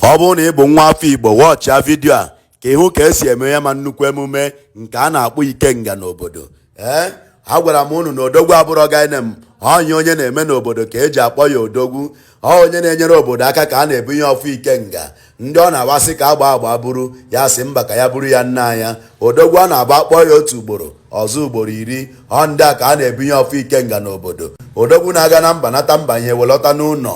Ọ bụrụ na ị bụ nwa afọ Igbo, wọchịa vidio a ka ịhụ ka esi eme ya ma nnukwu emume nke a na-akpọ Ikenga n'obodo. Ee, eh, agwara m unu na odogwu abụrọ guy name onye onye na-eme n'obodo ka eji akpọ ya odogwu ọ onye na-enyere obodo aka ka a na-ebunye ọfọ Ikenga ndị ọ na-awụ a sị ka agba agba buru ya sị mba ka ya buru ya naanị ya odogwu ọ na-abụ a kpọọ ya otu ugboro ọ zaa ugboro iri ọ ndị a ka a na-ebunye ọfọ Ikenga n'obodo odogwu na-aga na mba nata mba ihe welata n'ụlọ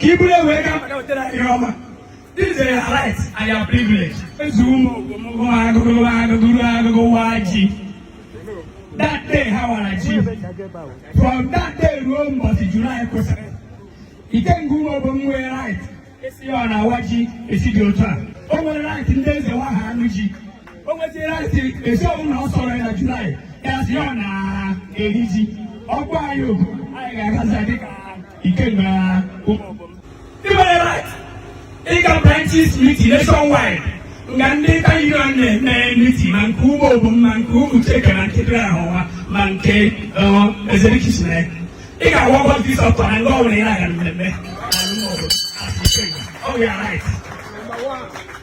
ka i buru wee gaa maka wetara ihe ọma This is a right and your privilege. Ezu ụmụ ogologo agụgụ agụgụ agụgụ waa ji. That day ha wara ji. From that day ruo mbọchị July kwụsịrị. Ikenga ụmụ ogbo m nwere right esi ya ọ na-awa ji esi dị otu a. O nwere right ndị eze wa ha anụ ji. O nwezi right esi ọbụla ọ sọrọ ya na July ya si ya ọ na-eri ji. Ọgwụ anyị ogu anyị ga-agazi dịka Ikenga i nwere right ịga branches meeting nationwide nga ndị tayirian na-eme meeting ma nke ugbo bụ ma nke ụmụ cheke na nkịtịrị ahụwa ma nke ezerikisina ị ga-agwa ọgwọ dis ọtọ na ndị ọbụla ị na-aga mmemme ọ bụ ya right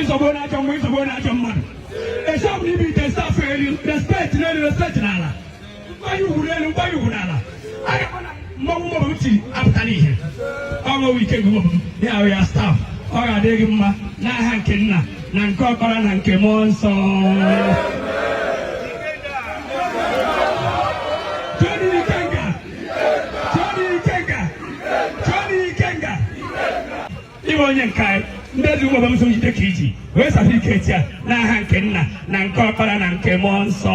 ịzọgbo na ajọ mmụọ ịzọgbo na ajọ mmadụ esi ọbụla i bulite staff elu respect n'elu respect n'ala nkwanye ugwu n'elu nkwanye ugwu n'ala aga m na mmanwụ mọbụ m tiri apụtara ihe ọṅụwụ Ikenga mọbụ m ya ahụ ya staff ọ ga-adị gị mma n'aha nke nna na nke ọkpara na nke mmụọ nsọ Johnny Ikenga! Johnny Ikenga! Johnny Ikenga! ị bụ onye nke anyị ndị ezi ụmụ ọbamso jide ka i ji were certificate a n'aha nke nna na nke ọkpara na nke mmụọ nsọ